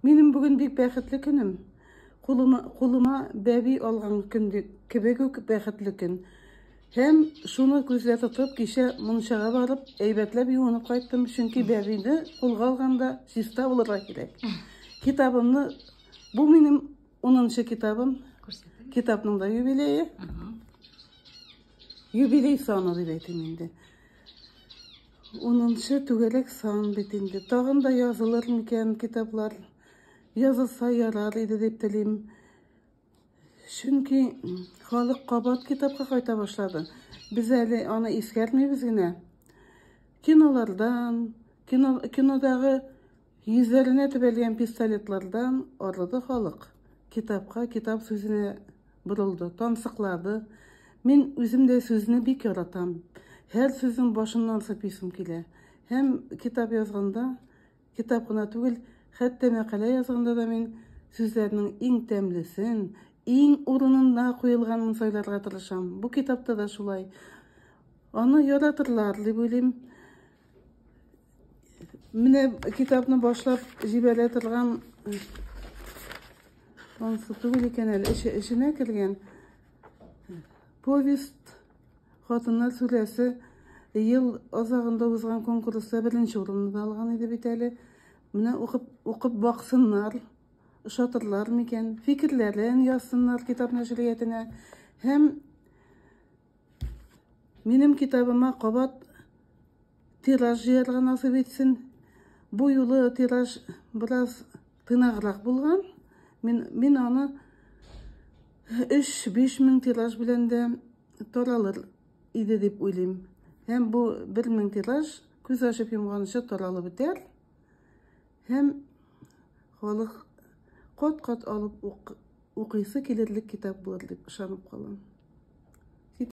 Минем бүген бик бәхетле көнем. Кулыма, кулыма бәби алган көн кебек үк бәхетле көн. Һәм шуны күздә тотып, кичә мунчага барып, әйбәтләп юынып кайттым, чөнки бәбине кулга алганда чиста булырга кирәк. Китабымны, бу минем 10 китабым, китапның да юбилее. Юбилей саны дип әйтим инде. Унынчы түгәрәк сан бит инде. Тагын да язылыр микән китаплар? Язылса ярар иде дип телим. Чөнки халык кабат китапка кайта башлады. Без әле аны искәрмибез генә. Кинолардан, кино, кинодагы Йөзләренә төбәлгән пистолетлардан арыды халык. Китапка, китап сүзенә борылды, тансыклады. Мин үзем дә сүзне бик яратам. Һәр сүзнең башыннан сыпыйсым килә. Һәм китап язганда, китап кына түгел, хәтта мәкалә язганда да мин сүзләрнең иң тәмлесен, иң урынында куелганын сайларга тырышам. Бу китапта да шулай. Аны яратырлар, дип уйлыйм. Менә китапны башлап җибәрә торган анысы түгел икән әле, эче, эченә кергән повесть хатыннар сүрәсе ел азагында узган конкурста беренче урынны да алган иде бит әле. Менә укып, укып баксыннар, ошатырлар микән, фикерләрен язсыннар китап нәшриятенә һәм Минем китабыма кабат тираж җыярга насыйп итсен. Бу юлы тираж бераз тыйнаграк булган. Мин, мин аны 3-5 мең тираж белән дә таралыр иде дип уйлыйм. Һәм бу 1 мең тираж күз ачып йомганчы таралып бетәр. Һәм халык кат-кат алып укыйсы килерлек китап булыр дип ышанып калам.